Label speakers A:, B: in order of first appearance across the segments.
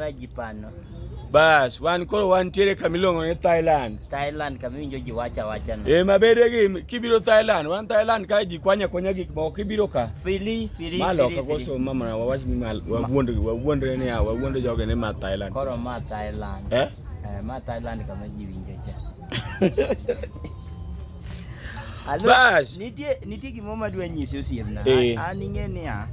A: Rajipano. Bas, wan koro wantiere kama iluongo ni Thailand. Thailand kama iwinjo ji wacha wacha no. Eh, mabede gi kibiro Thailand, wan Thailand ka ji kwanya kwanya gik moko kibiro ka. Fili, fili, Malo fili, ka fili. koso mama na wawach ni mal wawuond wawuond ni ya wawuond joge ni ma Thailand. Koro ma Thailand. Eh? Eh, ma Thailand kama ji winjo cha. Bas. Nitie nitie gimo ma dwa nyisi osiemna. Eh. An ing'e niya.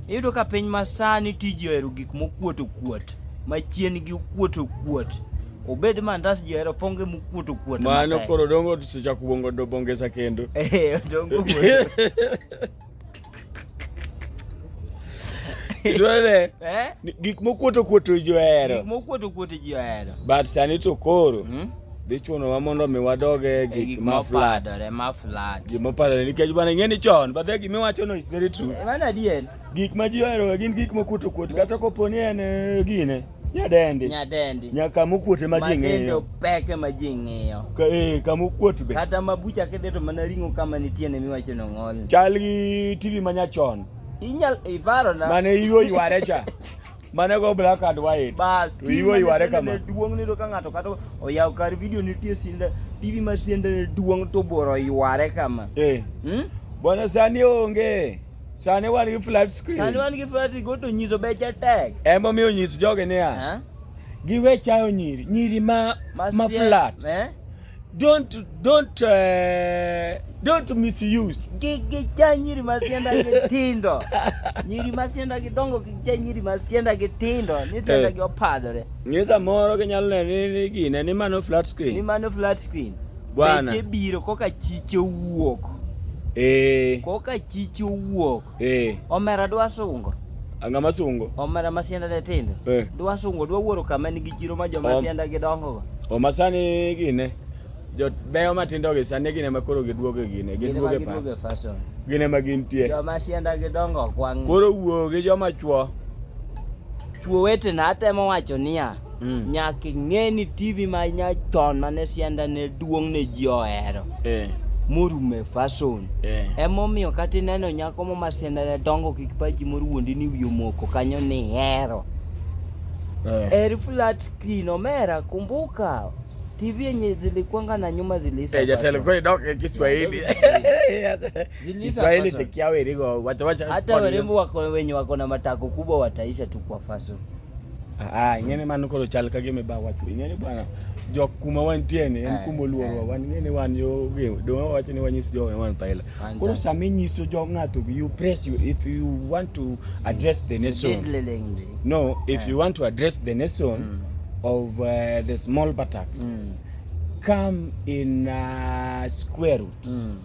A: Iyudo ka piny masani tiji ohero gik mokuot okuot. Machien gi okuot okuot. Obed mandas ji ohero ponge mokuot okuot. Mano koro dongo sechako bongo do bongesa kendo. Eh, dongo. Itwele. Eh? Gik mokuoto kuoto ji ohero. Gik mokuoto kuoto ji ohero. But sani to koro. Hmm? Dhi chunowa mondo mi wadoge eh, gik ma flat. Gik ma flat. Gik ma padore nikech bana ing'e ni chon but gik miwacho no is very true. Eh, mano adier. Gik ma ji ohero gin gik mokuoto kuoto kata kopo ni en eh, gine. Nyadendi. Nyadendi. Nya kama okuot ema ji ng'iyo. Madendo pek ema ji ng'iyo. Ka eh kama okuot be. Kata ma bucha kidhi to mana ring'o kama nitie ne miwacho no ng'ol. Chal gi TV ma nyachon. Inyal iparo na. Mane iwo yware cha. Mane go black and white. Bas. To iwo yware kama. Duong' ni do ka ng'ato kata oyaw kar video nitie sinda TV mar sinda duong' to boro yware kama. Eh. Hmm? Bwana sani onge. Sani wan gi flat screen. Sani wan gi flat screen goto nyiso beche tek. Ema omiyo nyis joge niya. Eh? Giwe chayo nyiri, nyiri ma ma flat. Eh? Don't don't uh, don't misuse. Gi gi cha nyiri ma sienda gi tindo. nyiri ma sienda gi dongo gi cha nyiri ma sienda gi tindo, ni sienda eh. gi opadore. Ngeza moro gi nyalo ne ni gine ni mano flat screen. Ni mano flat screen. Bwana. Beche biro koka chiche wuok. Eh. Koka chiche wuok. Eh. Omera dwa sungo. Ang'a masungo. Omera masianda de tindo. Eh. Dwa sungo dwa wuoro kama nigi chiro ma joma Om. sianda gidongo go. Oma sani gine. Jot beyo matindo gi sani gine ma koro giduogo gine. Giduogo pa. Giduogo fashion. Gine ma gintie. Joma sianda gidongo kwang'. Koro wuo gi joma chwo. Chwo wetena atemo wacho niya. Mm. Nyaka ing'e ni TV ma nyachon mane sianda ne duong' ne ji ohero. Eh. Morume fason. Eh. Emomiyo kata ineno nyako mo ma sianda ne dongo kik pachi moro wuondi ni wiyo moko kanyo ni hero. Eh. Eri flat screen omera kumbuka. TV yenye zilikuanga na nyuma zilisa. Eh, jatelo kwa dok eh, Kiswahili. Kiswahili tekiawe rigo. Wacha wacha. Hata warembo wako wenye wako na matako kubwa wataisha tu kwa fason. Ah, ing'eni mano koro chal ka gima ba wacho. Ing'eni bwana jok kuma wantie ni en kuma oluorwa. Wan ing'eni wan yo gem. Do wacho ni wanyis jo wan thaila. Koro sama inyiso jo ng'ato you press you if you want to address the nation. No, if you want to address the nation mm. of uh, the small buttocks. Mm. Come in uh, square root. Mm.